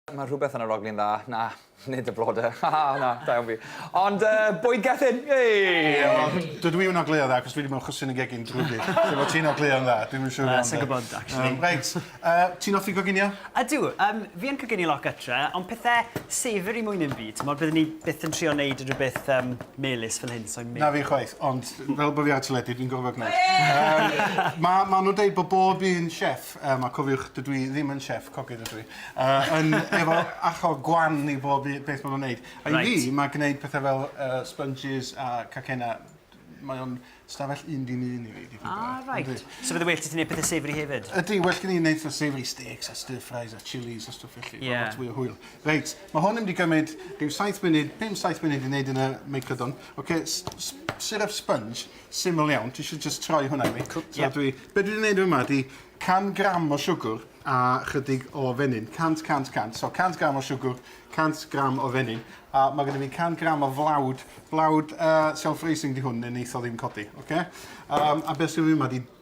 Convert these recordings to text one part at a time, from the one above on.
Mae rhywbeth yn yr oglyn dda. Na, nid y blodau. Ha, na, da iawn fi. Ond uh, bwyd gethin! Hey! Dydw i yn ogleuo dda, cos dwi wedi mewn chwsyn y gegin drwy gyd. Lle mae ti'n ogleuo yn dda, dwi'n siŵr iawn. Sa'n gwybod, actually. Um, reit, uh, ti'n offi goginio? Ydw, um, fi yn coginio lot gytre, ond pethau savory mwy neu byd. Mae byddwn ni byth yn trio wneud rhywbeth um, melus fel hyn, so'n mynd. Na fi chwaith, ond fel bod fi ar y teledu, dwi'n gorfod gwneud. Um, mae ma nhw'n dweud bod bob un chef Yym a cofiwch, dydw i ddim yn chef, cogydd ydw i. Yy yn efo acho gwan i bob u- beth ma' nw'n neud. A i fi... Reit. ...ma' gneud pethe fel yy sponges a cacena mae o'n stafell un dim un i fi dipyn bach. Ah reit. Yndi. So fydde well 'da ti neud pethe savoury hefyd? Ydi, well gen i neud fatha savoury steaks a stir fries a chilis a stwff felly. Ie. Ma' lot fwy o hwyl. Reit, ma' hwn yn mynd i gymyd rhyw saith munud, pum saith munud i neud yn y meicrodon. Ocê, s- s- syrup sponge. syml iawn, ti eisiau jyst troi hwnna i mi? Cw- ie. So dwi... Be' dwi 'di neud yma ydi 100 gram o siwgwr a chydig o fenyn. 100, 100, 100. So 100 gram o siwgwr, 100 gram o fenyn, a ma' gynno fi 100 gram o flawd. Blawd yy self-raising 'di hwn, ne' neith o ddim codi, ocê? Yym a be' sy 'da fi yma 'di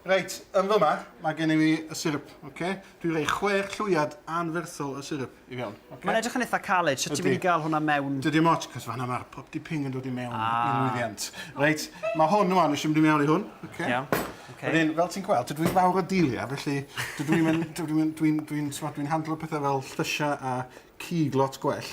Reit, yn fyma, mae gennym ni y syrup, oce? Dwi'n rhoi chwech llwyad anferthol o syrup i fewn, oce? Mae'n edrych yn eitha caled, sut ti'n mynd i gael hwnna mewn? Dydy dim ots, cos fan'na mae'r popty ping yn dod i mewn i'r lwyddiant. Reit, mae hwn rwan, nes i mynd i mewn i hwn, oce? Iawn, oce. Wedyn, fel ti'n gweld, dydw i fawr o deiliau, felly dydw i'm yn, dydw i'm yn, dwi'n, dwi'n, t'mod, dwi'n handlo pethau fel llysiau a cig lot gwell.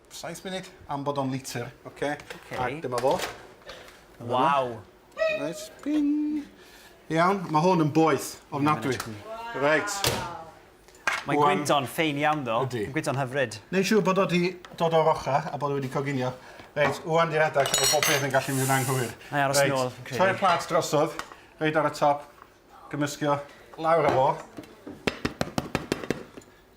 Saith munud am bod o'n litr. Oce. Oce. Ac dyma fo. Waw. Reit, ping. Iawn, ma' hwn yn boeth, ofnadwy. Reit. Mae gwyntog ffein iawn ddo. Ydy. Mae gwyntog hyfryd. Neu' siŵr bod o 'di dod o'r ochr a bod o wedi coginio. Reit, ŵan 'di'r adag lle mae bob peth yn gallu mynd yn anghywir. Nai aros yn ôl, fi'n credu. Troi'r plat drosodd, reit ar y top, gymyscio lawr â fo.